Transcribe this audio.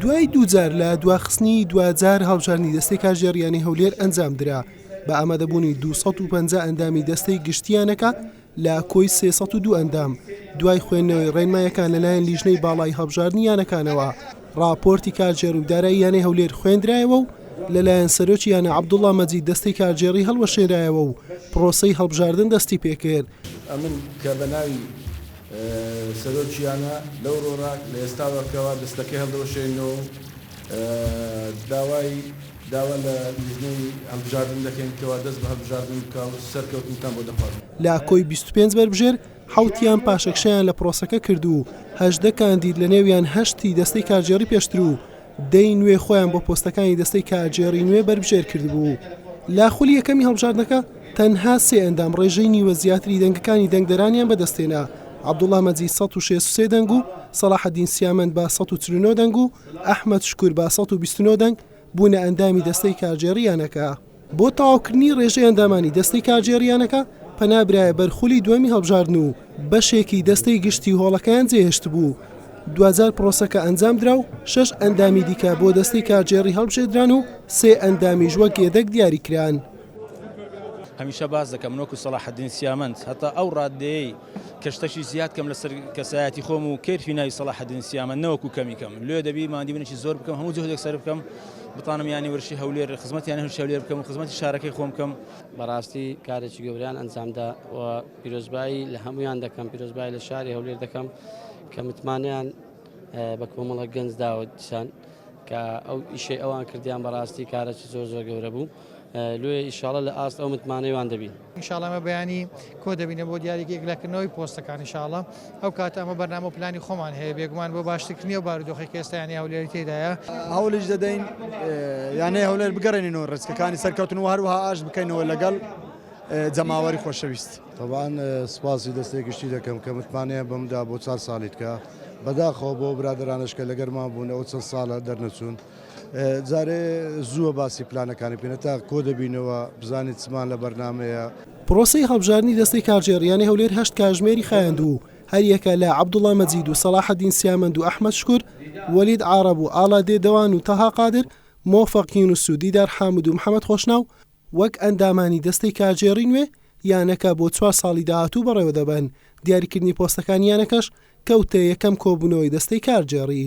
دوای دووجار لە دواخستنی دواجار هەڵبژاردنی دەستەی کارگێڕییانی هەولێر ئەنجامدرا بە ئامادەبوونی 250 ئەندامی دەستەی گشتییانەکە لە کۆی 302 ئەندام دوای خوێندنەوەی ڕێنمایەکان لەلایەن لیژنەی باڵای هەڵبژاردنی یانەکانەوە ڕاپۆرتی کارگێڕ و دارایی یانەی هەولێر خوێندرایەوە و لەلایەن سەرۆکی یانە عەبدوڵڵا مەجید دەستەی کارگێڕی هەڵوەشێنرایەوە و پڕۆسەی هەڵبژاردن دەستیپێکرد. سەرۆکییانە لەو رۆرا لە ئێستاوە کەوا دەستەکە هەڵدەوەشێنەوە و داوای داوا لە لیژنەی هەڵبژاردن دەکەین کەوا دەست بە هەڵبژاردن بکا و سەرکەوتنتان بۆ دەخوازم. لە کۆی بیست و پێنج بەربژێر، حەوتیان پاشەکشەیان لە پرۆسەکە کرد و هەژدە کاندید لەنێویان هەشت ی دەستەی کارگێڕی پێشتر و دەی نوێ خۆیان بۆ پۆستەکانی دەستەی کارگێڕی نوێ بەربژێر کردبوو. لە خولی یەکەمی هەڵبژاردنەکە تەنها سێ ئەندام ڕێژەی نیوە زیاتری دەنگەکانی دەنگدەرانیان بەدەستهێنا، عەبدوڵا مەجید سەد و شەست و سێ دەنگ و سەڵاحەدین سیامەند بە سەد و چل و نۆ دەنگ و ئەحمەد شکور بە سەد و بیست و نۆ دەنگ بوونە ئەندامی دەستەی کارگێڕی یانەکە. بۆ تەواوکردنی ڕێژەی ئەندامانی دەستەی کارگێڕییانەکە، پەنا برایە بەر خولی دووەمی هەڵبژاردن و بەشێکی دەستەی گشتی هۆڵەکەیان جێهێشتبوو. دواجار پرۆسەکە ئەنجامدرا و شەش ئەندامی دیکە بۆ دەستەی کارگێڕی هەڵبژێردران و سێ ئەندامیش وەک یەدەگ دیاریکران. هەمیشە باس دەکەم من وەکو سەڵاحەدین سیامەند هەتا ئەو ڕاددەیەی کە شتەکی زیاد کەم لەسەر کەسایەتی خۆم و کەیرفی ناوی سەڵاحەدین سیامەند نەوەکو کەمی کەم لۆ دەبی ماندی منێکی زۆر بکەم هەموو جهدێک سەرف کەم بتانم یانی ورشی هەولێر خزمەت یانی هەرشی هەولێر بکەم و خزمەتی شارەکەی خۆم بکەم بەڕاستی کارێکی گەوریان ئەنجامدا و پیرۆزبایی لە هەمویان دەکەم پیرۆزبای لە شاری هەولێر دەکەم کە متمانیان بە کۆمەڵە گەنج داوەتیان کە ئەو ئیشەی ئەوان کردیان بەڕاستی کارەی زۆر زۆر گەورە بوو. لۆیێ ئیشاڵە لە ئاست ئەو متمانەی وان دەبین. ان شاءاللە ئێمە بەیانی کۆ دەبینە بۆ دیاریکە یەکلاکردنەوەی پۆستەکان ان شاءاللە ئەو کاتە ئەمە بەرنامە و پلانی خۆمان هەیە بێگومان بۆ باشترکردنی ئەو بارودۆخەی کە ئێستا یانەی هەولێری تێدایە هەوڵیش دەدەین یانەی هەولێر بگەرێنینەوە ڕێچکەکانی سەرکەوتن و هەروەها ئاش بکەینەوە لەگەڵ جەماوەری خۆشەویست تەبان سپاسی دەستێکیشتی دەکەم کە متمانەیە بەمدا بۆ چار ساڵیتکە بەداخەوە بۆ برادرانشکە لەگەرما بوون ئەو چەند ساڵە دەرنەچوون. جارێ زووە باسی پلانەکانی بکەین هەتا کۆ دەبینەوە بزانین چمان لە بەرنامەیە. پرۆسەی هەڵبژاردنی دەستەی کارگێڕییانی هەولێر هەشت کاژمێری خایاند و هەریەکە لە عەبدوڵا مەجید و سەڵاحەدین سیامەند و ئەحمەد شکور، وەلید عارەب و ئاڵا دێدەوان و تەها قادر، مۆفەق یونس و دیدار حامد و محەمەد خۆشناو وەک ئەندامانی دەستەی کارگێڕی نوێ یانەکە بۆ چوار ساڵی داهاتوو بەڕێوە دەبەن، دیاریکردنی پۆستەکانی یانەکەش کەوتە یەکەم کۆبوونەوەی دەستەی کارگێڕی.